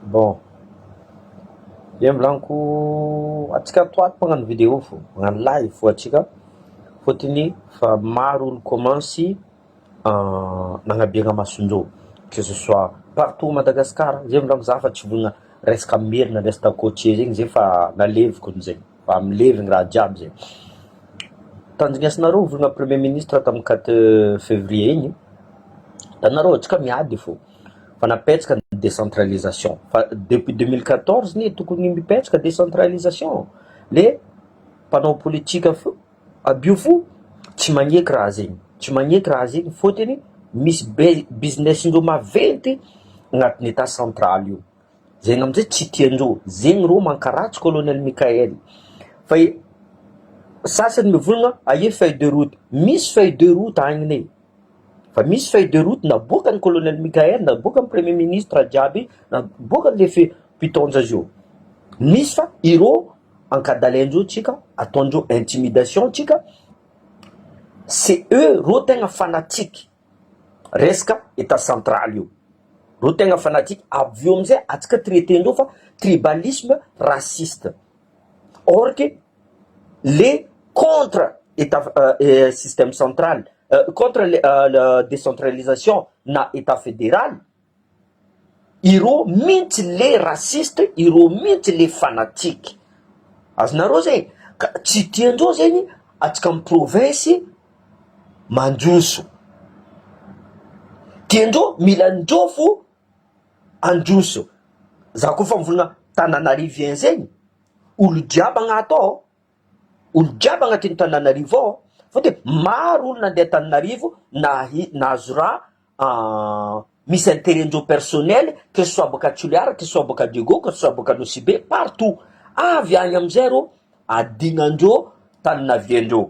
Bon. Dia milaniko antsika ato ato magnano vidéo fo, magnano live fo antsika fôtony fa maro olo kômansy nagnabera mason-jôho que ce soit partout Madagasikara, zay milaniko za fa tsy vonona resaka merina resaka cotier zegny zay fa naleviko amizay, fa milevy ny raha jiaby zay. Tandrinesinareo vola premier ministre tamin'ny quatre fevrier igny, da nareo antsika miady fo. Fa napetaka ny décentralisation. Fa depuis 2014 anie tokony mipetaka décentralisation. Le mpanao politika fo, abio fo, tsy magneky raha zegny. Tsy magneky raha zegny fôtony misy be- business-ndreo maventy agnatin'ny Etat central io. Zegny am'zay tsy tiandreo. Zegny rô mankaratsy Colonel Mickaël. Fa i- sasany mivôlagna aia feuille de route? Misy feuille de route agny ne. Fa misy feuille de route naboakan'i Colonel Mickaël, naboakan'ny Premier Ministre jiaby, naboakan'ny Lefy mpitaonja azy io. Misy fa ireo ankadalain-dreo tsika, ataon-dreo intimidation tsika, c'est eux reo tegna fanatique resaka Etat central io. Reo tegna fanatique, avy eo amizay atsika traiter-ndreo fa tribalisme, raciste. Or que le contre etat système central contre le décentralisation na etat federal ireo mintsy le raciste ireo mintsy le fanatique azonareo zay ka tsy tiandreo zegny atsika amy province mandroso tiandreo mila ndreo fo Handroso za koa fa mivona tananariviens zegny olo jiaby agnato ao olo jiaby agnatin'ny tananarivo ao fa de maro olo nandeha tananarivo nahi- nahazo raha misy interet ndreo personnel que ce soit boaka toliara que ce soit boaka diego que ce soit boaka anosibe partout avy agny amizay ro adignandreo tananaviendreo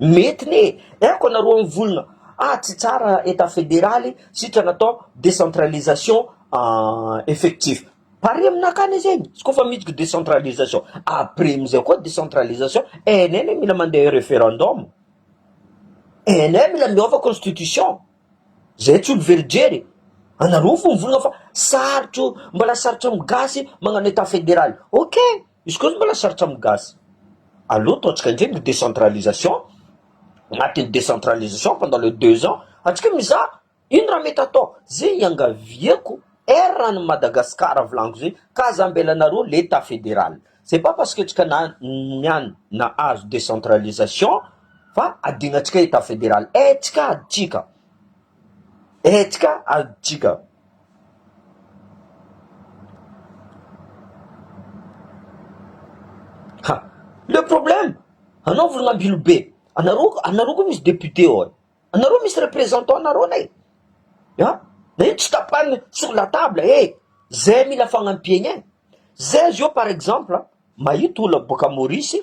Mety ne, aiko anareo mivolona ah tsy tsara etat federaly sitrana atao decentralisation effectif, pare aminakany zeny izy koa fa midiko decentralisation, après amizay koa decentralisation NN mila mandeha referendum, NN mila miova constitution, zay tsy olo very jery e, anareo fo mivolona fa sarotro mbola sarotra am gasy magnano etat federaly, ok. Izy koa mbola sarotra amin'ny gasy. Alou to antsika indray ny décentralisation, anatin'ny décentralisation pendant le deux ans, antsika mizaha ino raha mety atao, zay iangaviako erra an'i Madagascar volagno zay, ka aza ambelanareo l'Etat fédéral, c'est pas parce que antsika na niany nahazo décentralisation fa adignantsika Etat fédéral, aintsika adintsika. Hetsika adintsika. Ha! Le problème, anao volon'ambilo be, anareo anareo koa misy député ao e, anareo misy représentant nareo ne e, an! Na io tsy tapahina sur la table e, zay mila fagnampiana e, zay zao par exemple mahita olona boaka Maurice,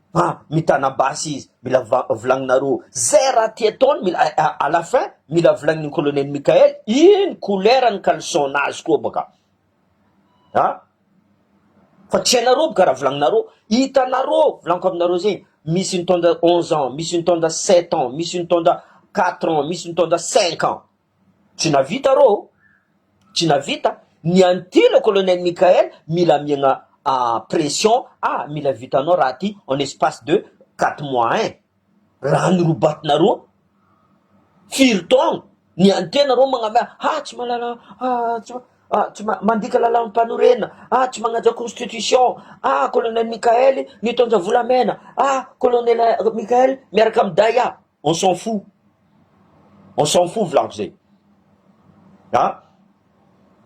fa mitana basy izy mila volagninareo zay raha ty ataony mila à la fin mila volagniny colonel Mickael ino couleur ny caleçon nazy koa baka a fa tsy hainareo boka raha volagninareo hitanareo volaniko aminareo zegny misy nitondra onze ans misy nitondra sept ans misy nitondra quatre ans misy nitondra cinq ans Tsy navita rô ô! Tsy navita! Ny an'i ty le colonel Mickaël mila amiagna pression ah! Mila vitanao raha ty en espace de quatre mois hein! Raha ny robatinareo an! Firy taogno ny an'i ty nareo magnamea ah! Tsy mahalala ah! Tsy ma- mandika lalam-panorena ah! Tsy magnaja constitution ah! Colonel Mickaël mitondra volamena ah! Colonel Mickaël miaraka amin'ny Daya. On s'en fou. On s'en fou volako zay. Ha?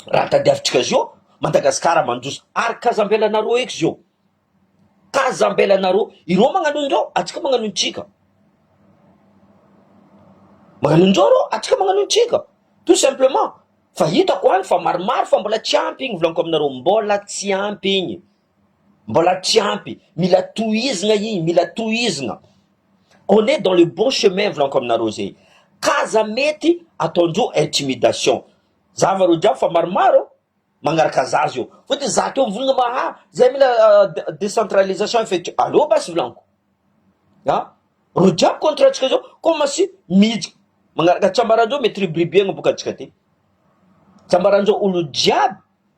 Raha tadiavintsika zio, Madagasikara mandroso. Ary kaza ambelanareo eky zio. Kaza ambelanareo. Ireo magnano indreo, atsika magnano intsika. Magnano indreo ireo, atsika magnano intsika. Tout simplement. Fa hitako any fa maromaro fa mbola tsy ampy igny volaniko aminareo. Mbola tsy ampy igny. Mbola tsy ampy, mila tohizina iny, mila tohizina. On est dans le bon chemin volaniko aminareo zay. K'aza mety ataondreo intimidation. Zava reo jiaby fa maromaro magnaraka zaza eo. Sao de zato eo mivolagna ma ha zay mila decentralisation effective. Aleo basy volaniko. Ha? Reo jiaby contrat ntsika zao comme si mijy magnaraka, tsy ambaranjeo mety ribiribihagna boka antsika ty. Tsy ambaranjeo olo jiaby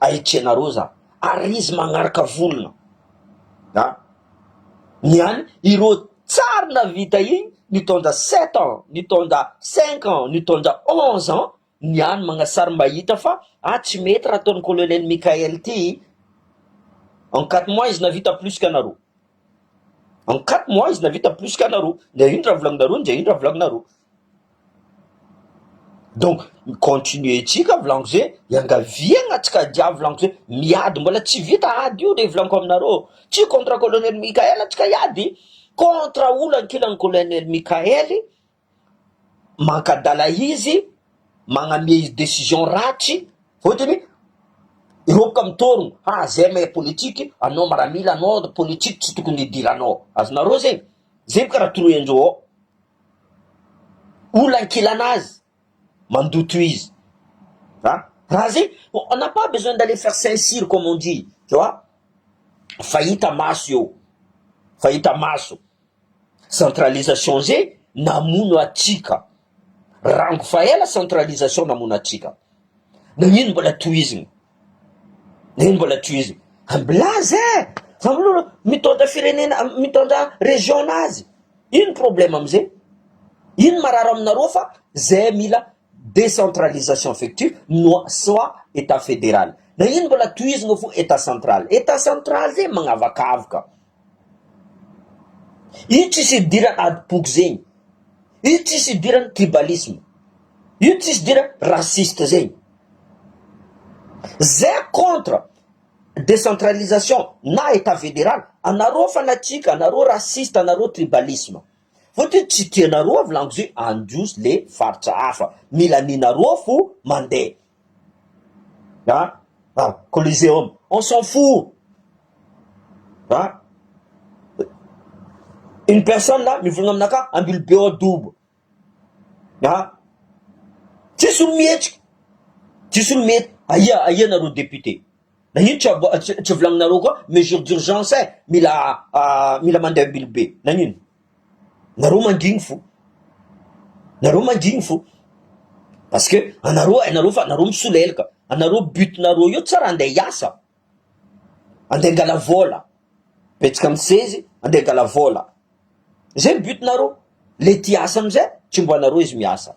Ahitrianareo za ary izy magnaraka volona a! ny any ireo tsary navita igny nitondra sept ans, nitondra cinq ans, nitondra onze ans ny any magnasary mba hita fa ah tsy mety raha ataon'i colonel Mickael ty en quatre mois izy navita plus que anareo, en quatre mois izy navita plus que anareo, ndray ino raha volagninareo ndray ino raha volagninareo. Donc mi-continuer tsika Vilankose, iangaviagna tsika dia Vilankose, miady mbola tsy vita ady io re Vilanko aminareo, tsy contre colonel Mickaël tsika hiady, contre olo ankilan'i colonel Mickaël mankadala izy, magname izy decision ratsy, fotony hiroboka amin'ny torogno, ha zay mahay politique, anao maramila anao, politique tsy tokony hidiranao, azonareo zegny? zay boka raha toroy anjôô. Olona ankilana azy mandoa tohizo a! Raha zay, on n'a pas besoin d'aller faire Saint-Cyr comme on dit, tu vois? Fa hita maso eo, fa hita maso. Centralisation zay namono atsika, rango fa ela centralisation namono atsika. Nagnino mbola tohizigny? Neny mbola tohiziny. Am blaze eh! Fa mlolo mitondra firenena mitondra region nazy ino problème am zegny? Ino marary aminareo fa zay mila décentralisation effective no soit etat federal na ino mbola tohizigny fô etat central etat central zegny magnavakavaka. Io tsisy idiran ady boky zegny. Io tsisy idiran tribalisme. Io tsisy idiran raciste zegny. Ze contre decentralisation na etat federal anareo fanatsika anareo raciste anareo tribalisme. Fotony tsy tianareo avy langy ze handroso le faritra hafa. Mila nenareo fo mande. Ha? Ha? Coliseum. On s'en fout. Ha? Une personne là mivolagna aminaka ambilo be ao dobo. Ha? Tsisy olo mihetsika. Tsisy olo mihetsika. Aia aia nareo député. Na ino tsy abo- tsy tsy volagninareo koa mesure d'urgence eh, mila ah, mila mandeha ambilo be. Nagnino? nareo mangigny fo, nareo mangigny fo, parce que anareo hainareo fa anareo misolelaka, anareo but nareo eo tsy raha ande hiasa, ande hangala vola, betsaka misezy ande hangala vola, zay but nareo, le ty hiasa amizay tsy ombanareo izy miasa.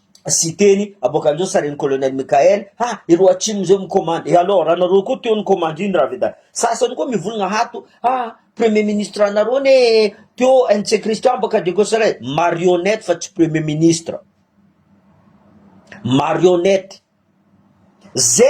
Siteny, Aboakan'izao sarin'i Colonel Michael, ha, ireo atsimo izao mikomandy, et alors anareo koa teo nikomandy iny Ravedat. Sasany koa mivolagna ato, ha, premier ministre anareo anie teo NC Christian baka de Kosrae, marionnette fa tsy premier ministre, marionnette, ze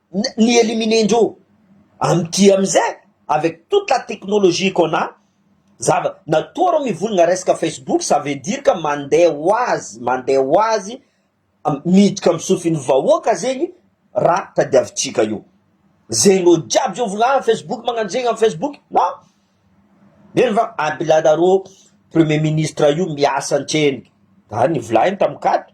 Ny eliminer ndreo amin'ity amin'izay avec toute la technologie qu'on a zava natoa reo mivolagna resaka Facebook ça veut dire que mande ho azy mande ho azy miditra amin'ny sofin'ny vahoaka zegny raha tadiavintsika io zegny reo jiaby zao volagna ah Facebook magnano zegny amin'ny Facebook na eny fa abilala reo premier ministre io miasa an-tsena zany volagny tamin-kato.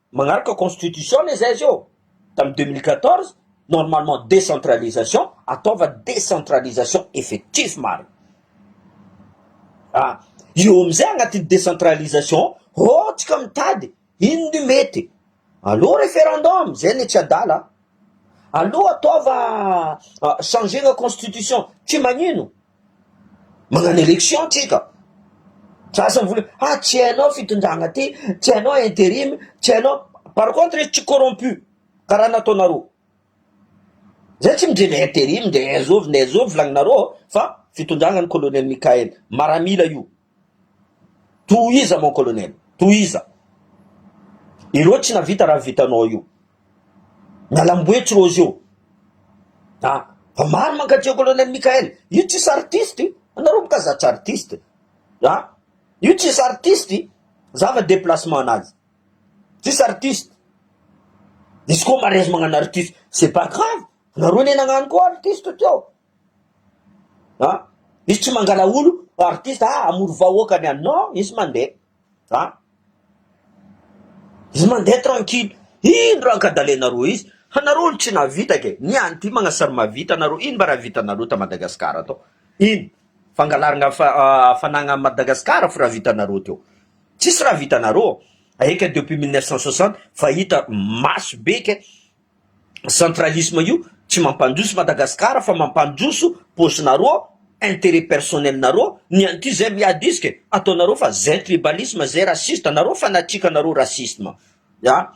Magnaraka constitution anie zay izy io tamin'ny deux mille quatorze, normalement décentralisation, ataova décentralisation effectif marina. Ah, io amizay agnatin'ny décentralisation ô tsika mitady ino ny mety. Allo referendum, zay anie tsy adala. Allo ataova changegna constitution, tsy magnino. Magnano élection tsika, za zany vola, ah tsy hainao fitondrana ty, tsy hainao interim, tsy hainao, par contre izy tsy corrompu karaha nataonareo, zay tsy midre le interim, ndre zovy ndre zovy volagninareo fa fitondrana ny colonel Mickaël, maramila io. Tohiza mon colonel, tohiza. Ireo tsy navita raha vitanao io. Mialamboetsy Rozy io. A, fa maro mankatia colonel Mickael. Io tsisy artiste io. Anareo moka za tsy artiste. A, io tsisy artiste. Za fa déplacement anazy. Tsisy artiste. Izy koa marezy magnano artiste. C'est pas grave. Anareo ne nagnano koa artiste teo. an! misy tsy mangala olo ho artiste ah hamory vahoaka ny any non izy mandeha an! izy mandeha tranquille ino raha ankadalenareo izy hanareo olo tsy nahavita ke ny any ty magnasary mahavita nareo ino mba raha vitanareo ta Madagascar atao ino fangalarana hafanagna any Madagascar fo raha vitanareo teo tsisy raha vitanareo aika depuis mille neuf cent soixante fa hita maso be ke. Centralisme io tsy mampandroso Madagascar fa mampandroso paosinareo, interet personnel nareo, ny an'ity zay miady isika e, ataonareo fa zay tribalisme, zay raciste, nareo fanatique nareo racisme ya,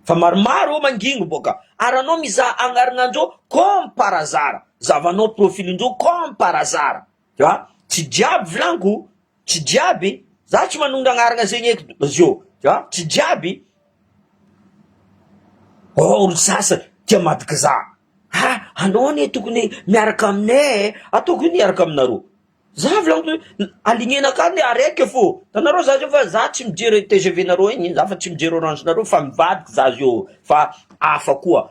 fa maromaro eo mangingo boka ary anao mizaha agnarignandreo comme par hasard, zavanao profilindreo comme par hasard. Za tsy jiaby vlanko tsy jiaby za tsy manondra agnarana zegny eky zio za tsy jiaby oh olo sasany tia madiky za ha anao anie tokony miaraka aminay e ataoko ino hiaraka aminareo za vlaniko hoe alignena ka ny araiky fô tanareo za zio fa za tsy mijery tgv nareo igny za fa tsy mijery orange nareo fa mivadika za zio fa hafa koa.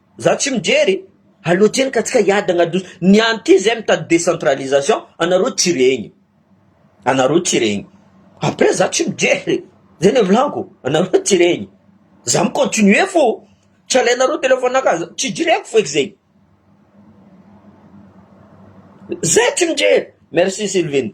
Za tsy mijery a loatra eny ka tsika hiadagna ado ny any ty zay mitady décentralisation anareo tsy regny anareo tsy regny après za tsy mijery zay le volagko anareo tsy regny za mi continuer fô tsy alainareo téléphone aka za tsy jereko feky zegny zay tsy mijery merci sylvine.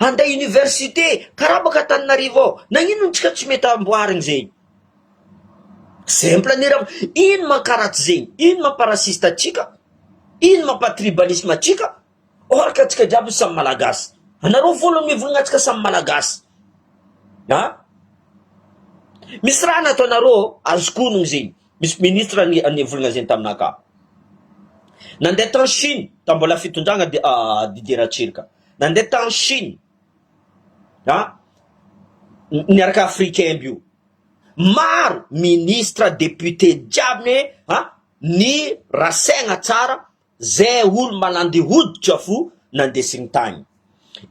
Handeha université, karama ka Antananarivo ao, nagnino ntsika tsy mety amboarigny zegny? Simple ny raha, ino mankaratsy zegny? Ino mamparasiste antsika? Ino mampatribalisme antsika? Or ka antsika jiaby samy malagasy, anareo foana no mivolagna antsika samy malagasy a, misy raha nataonareo azoko onogny zegny, misy ministre ni- nivolagna zegny taminakahy, nandeha tany Chine, tam mbola fitondragna Di- Didier Ratsiraka, Nandeha tany Chine a niaraka africain aby io. Maro ministre, député jiaby ne a ny rasaigna tsara ze olo malandy hoditra fo nandesigny tagny.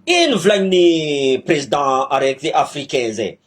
Ino volagniny président araiky ze africain ze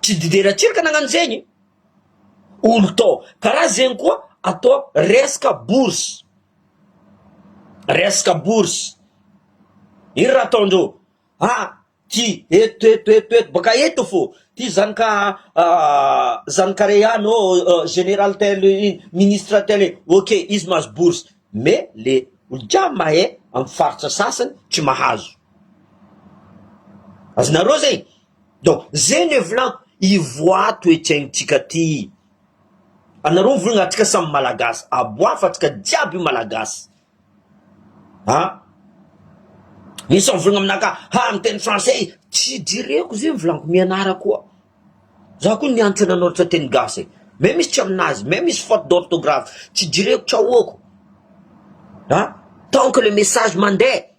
Tsy didera tsirika nagnano zegny olo tô, karaha zegny koa atô resaka bourse, resaka bourse ino raha ataondreo ha ty eto eto eto eto baka eto fô ty zanaka zanaka re any ô generaly tel ino ministra tel ino ok izy mahazo bourse mais le olo jiaby mahay amy faritra sasany tsy mahazo. Azonareo zay? Donc zay no hevilaniko, ivoato ety aintsika aty, anareo mivolagna atsika samy malagasy, aboafo atsika jiaby malagasy ah, misy mivolagna aminaka ha miteny français tsy jereko zay mivolagna mianara koa, za koa nianatra nanoratra teny gasy e, mais misy tsy aminazy, mais misy faute d'orthographe tsy jereko tsy ahoako ah, tant que le message mandeha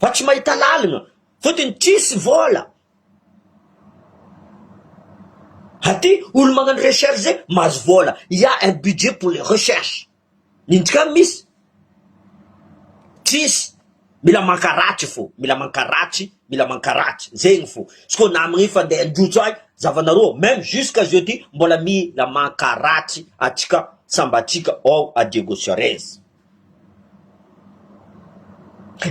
Fa tsy mahita lalina fotony tsisy vola aty olo magnano recherche zay mahazo vola il y'a un budget pour les recherches inty ka misy tsisy mila mankaratsy fo mila mankaratsy mila mankaratsy zegny fo izy ko na amigny fa ndeha handrotso ahy zavanareo meme jusqu'à jeudi mbola mila mankaratsy atsika sambatsika ao à Diego Suarez.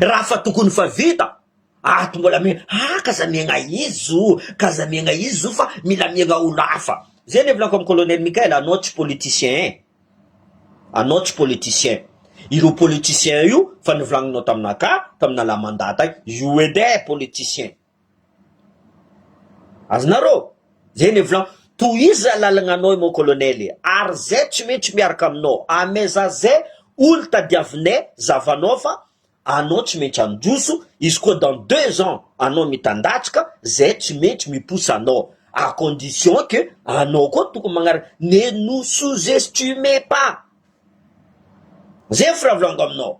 Raha fa tokony fa vita ato mbola mi ah ka za miaigna izy o ka za miaigna izy o fa mila miaigna olo hafa zay le volako am colonel Mickael anao tsy politicien e anao tsy politicien ireo politicien io fa nivolagninao taminakahy taminalahy mandat io edy e politicien. Azonareo? Zay le volan. Tohizo zay lalagna anao mon colonel e, ary zay tsy maintsy miaraka aminao, ame za zay olo tadiavinay zavanao fa anao tsy maintsy androso, izy koa dans deux ans anao mitandatsika zay tsy maintsy miposa anao, à condition que anao koa tokony magnaraka, ne nous sous estime pas, zay firavoravoako aminao.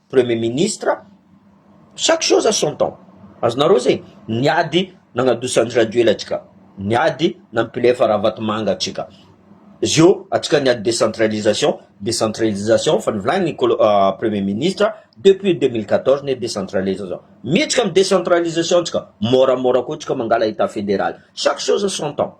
Premier ministre, chaque chose à son temps, azonareo zay, ny ady nagnadosa Andry Rajoela atsika, ny ady nampilefa Ravatomanga atsika, zio atsika niady décentralisation, décentralisation fa nivolagniny kolo premier ministre depuis deux mille quatorze ny décentralisation, miditra am décentralisation tsika môramôra koa tsika mangala état fédéral, chaque chose à son temps.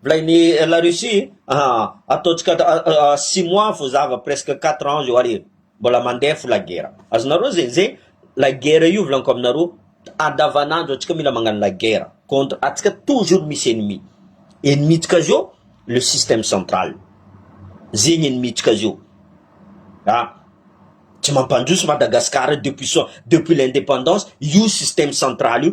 Mplay ny la Russie aa ataontsika six mois fo zava presque quatre ans zao ary mbola mandeha fo la guerre azonareo zegny zegny la guerre io volaniko aminareo andavanandro antsika mila magnano la guerre contre antsika toujours misy ennemi ennemi ntsika zao le système central zegny ennemi ntsika zao aa tsy mampandroso Madagascar depuis so depuis l'indépendance io système central io